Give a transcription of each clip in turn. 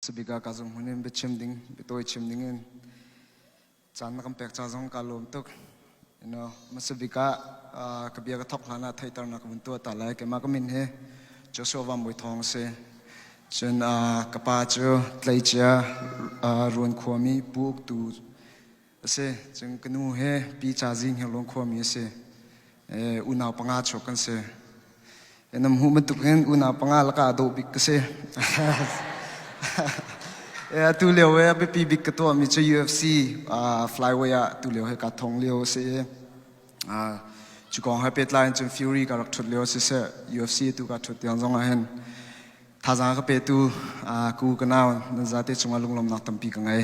sabika ka zung hun in biachim ding bitawi chim ding in caan na kan pek ca zong ka lawm tuk you know masabika ka bia ka thok hlan ah theiter na ka mun tua ta lai ke ma ka min he Joshua Van Mui Thong se cun ka pa cu tlei chia ruan khuami pu uk tu a si cun ka nu he pi ca zing he luang khua mi a si unau panga chuak kan si nam hu bantuk hin unau panga laka dawh bik ka si tu lio he biapi bik ka tuah mi cu UFC flyway ah tu lio he ka thong lio a si cu kong ha pet lai cun fury ka rak thut lio si se UFC tu ka thut tiang zong ah hin thazang ka pe tu ku ka naw nan za te chunga lunglam nak tampi ka ngai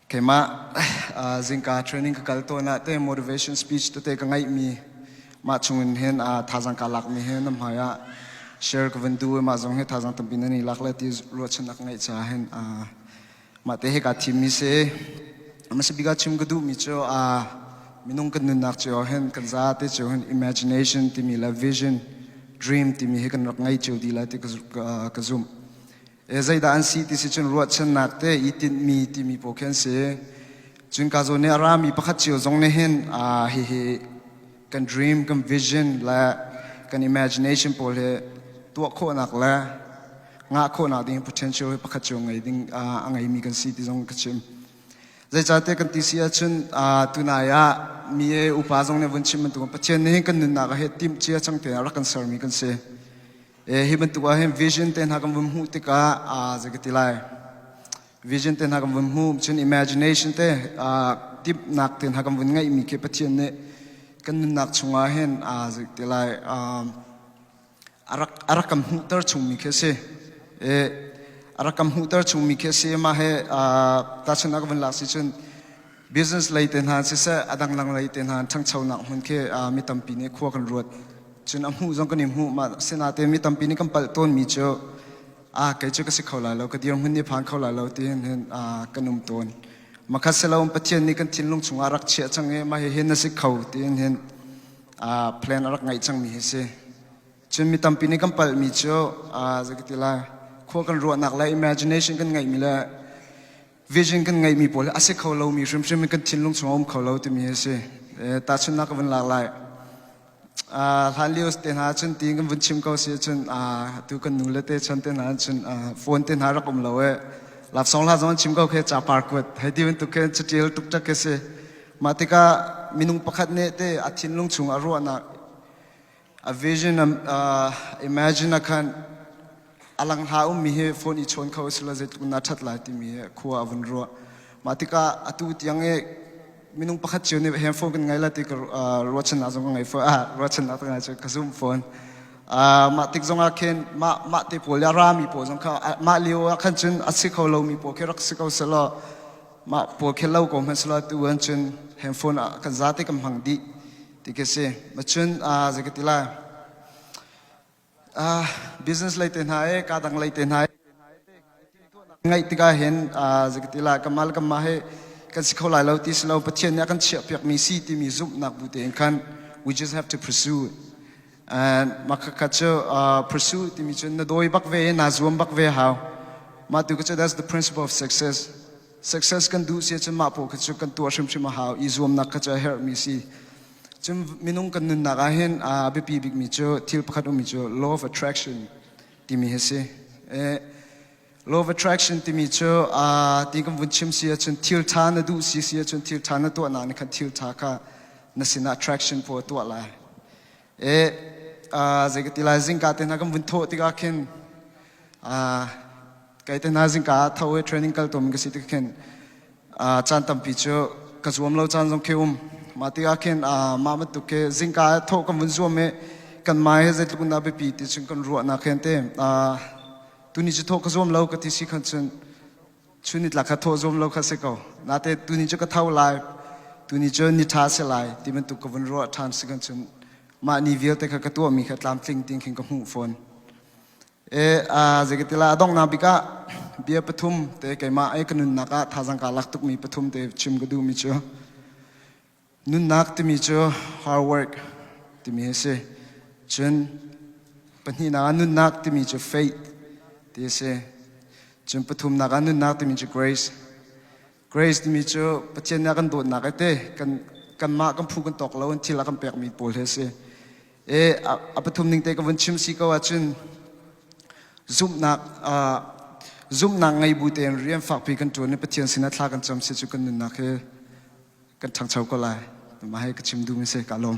Keimah zingka training ka kal tawn ah te motivation speech tete ka ngaihmi mah chungin hin thazang ka lakmi hi na hmai ah share ka van du i mah zong hi thazang tampi nan i lak le ti ruahchannak ka ngeih caah hin mah te hi kaa thimmi si hmasa bik ah chim ka duhmi cu minung kan nunnak cio hin kan za te cio hin imagination timi le vision dream timi hi kan rak ngei cio dih lai ti ka zumh zeidah an si ti si cun ruahchannak te i tinhmi timi pawl khi an si cunka zawn nih a rami pakhat cio zong nih hin hihi kan dream kan vision le kan imagination pawl hi tuah khawhnak le ngah khawhnak ding potential hi pakhat cio ngei ding a ngeimi kan si ti zong ka chim zeicahte kan ti si ahcun tunai ah mi upa zong nih vun chim bantuk pathian nih hin kan nunnak ah hi timh cia cang te rak kan sermi kan si hi bantuk ah hin vision te hna kan vun hmuh tikah a zei ka ti lai vision te hna kan vun hmuh cun imagination te timhnak te hna kan vun ngeihmi khi Pathian nih kan nunnak chungah hin aa zei ti lai a rak a rak kan hmuhter chungmi khi a si e a rak kan hmuhter chungmi khi a si mah he tahchun a ka vun lak si cun business lei te hna siseh adang dang lei te hna ṭhangchonak hmun khi mi tampi nih khua kan ruat cun a hmuh zong kan i hmuh mah sinate mi tampi nih kan palh tawnmi cu ah kei cu ka si kho lai lo ka dir hmun nih phan kho lai lo ti hin hin kan um tawn makhat si lo pathian nih kan thinlung chungah rak chiah chang i mah hihin na si kho ti hin hin plan a rak ngaih changmi hi si cun mi tampi nih kan palhmi cu zakiti lai khua kan ruahnak le imagination kan ngeihmi le vision kan ngeihmi pawl a si kho lomi hrimhrim in kan thinlung chung a um kho lo timi a si tahchunhnak ka vun lak lai hlan lio te hna cun ti kan vun chim ko si cun tu kan nu le te chan te hna cun phone te hna rak um lo e laksong la zong chim ko khe cha par kuat hei ti bantuk khe chatial tuk tak ke si mah tikah minung pakhat ne te a thinlung chung a ruahnak a vision uh, imagine a khan alang ha um mi he phone i chon kho sila zet kun na that lai ti mi he khua avun ro ma tika atu tiang e minung pakhat chiu ne hem phone kan ngai la ti ka ro chan na zong ngai fo a ro chan na ta ngai chu ka zoom phone ma tik zong a khen ma ma te pol ya ra mi po zong kha ma leo a khan chun a si kho lo mi po ke rak si kho selo ma po khe lo ko man selo tu an chun hem phone kan za te kam hang di ti ka si na chun ah zei ka ti lai ah business lei te hna e ka dang lei te hna ngaih tikah hin zei ka ti lai kamal kama he kan si kho lai lo ti si lo pathian nih a kan chiah piak mi si timi zumhnak bu te in khan we just have to pursue and makha chu pursue timi chun na dawi bak ve na zuam bak ve how matu ka that's the principle of success Success kan duh si ahcun mah paoh kha cu kan tuah hrimhrim a hau i zuamnak kha cu a herhmi si. Cun minung kan nunnak ah hin a biapi bikmi cu thil pakhat ummi cu law of attraction timi hi si. Law of attraction timi cu ti kan vun chim si ahcun thil ṭha na duh si si ahcun thil ṭha na tuahnak nih khan thil ṭha kha na sinah attraction puh a tuah lai. e zei ka ti lai zingka te hna kan vun thawh tikah khin kai te hna zingka ah tho i training kal tum ka si tikah khin caan tampi cu ka zuam lo caan zong khi um mah tikah khin mah bantuk khi zingka ah thawh kan vun zuam i kanmah he zeitluk in dah biapi ti cun kan ruah nak hen te tuni cu thawh ka zuam lo ka ti si khan cun Chun nitlak kha thawh zuam lo kha si ko. Nate tuni cu ka tho lai, tuni cu ni ṭha si lai ti bantuk ka vun ruah ṭhan si kan cun mah ni vialte kha ka tuahmi kha tlamtling ting khin ka hmuh fawn. E zeikatila a donghnak bik ah bia pathum te keimah i ka nunnak ah thazang kaa lak tukmi pathum te chim ka duhmi cu Nunnak timi cu hard work timi a si. Cun pahnihnak ah nunnak timi cu faith ti a si. Cun pathumnak ah nunnak timi cu grace. Grace timi cu Pathian nih a kan dawtnak ite kan kanmah kan phu kan tawk lo in thil a kan pekmi pawl hi a si. E, a, a pathum ning te ka vun chim si ko ahcun zumhnak uh, zumhnak ngei bu tein rian fakpi kan ṭuan i Pathian sinah thla kan cam si cu kan nunnak hi kan ṭhangcho ko lai. Nangmah he ka chim duhmi a si. Kaa lawm.